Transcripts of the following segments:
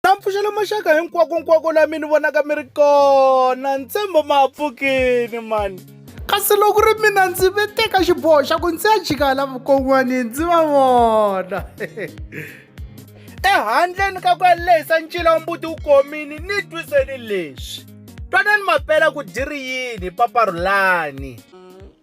na mpfuxela maxaka hinkwakonkwako la mi ni vonaka mi ri kona ntshembo ma ha pfukini mani kasi loko ri mina ndzi ve teka xiboho xa ku ndzi ya jika la vukon'wani ndzi va vona ehandleni ka ku ya lehisa ncila wa mbuti wu komini ni twiseni leswi twanani mapela ku dyi ri yini paparhulani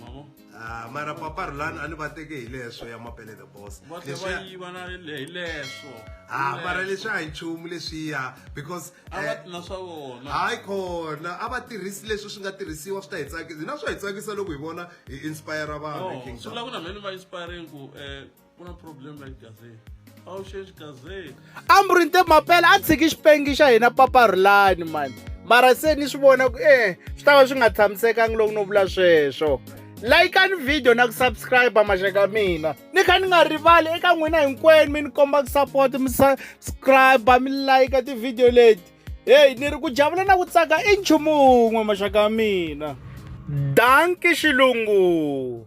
mavo ah mara papa rulani a ni va teke hi leswo ya mapele the boss va tlhe va yiva na hi leswo ah mara leswi a hi nchumu leswiya because a va eh, na swa vona hayi khona a va tirhisi leswi swi nga tirhisiwa swi ta hi tsakisa hina swa hi tsakisa loko hi vona hi inspire vanhu king swi vula ku na mhani va inspiring ku um ku na problem la gaze a wu xexi gaze ambrinte mapela a tshiki xipengi xa hina papa rulani mani mara se ni swi vona ku e swi ta va swi nga tshamisekangi loko no vula sweswo layikani video na ku subscribe maxaka mina ni kha ni nga rivali eka n'wina hinkwenu mi ni komba ku support mi subscribe mi layika tivhidiyo leti heyi ni ri ku javula na ku tsaka i nchumu wun'we maxaka mina danki xilungu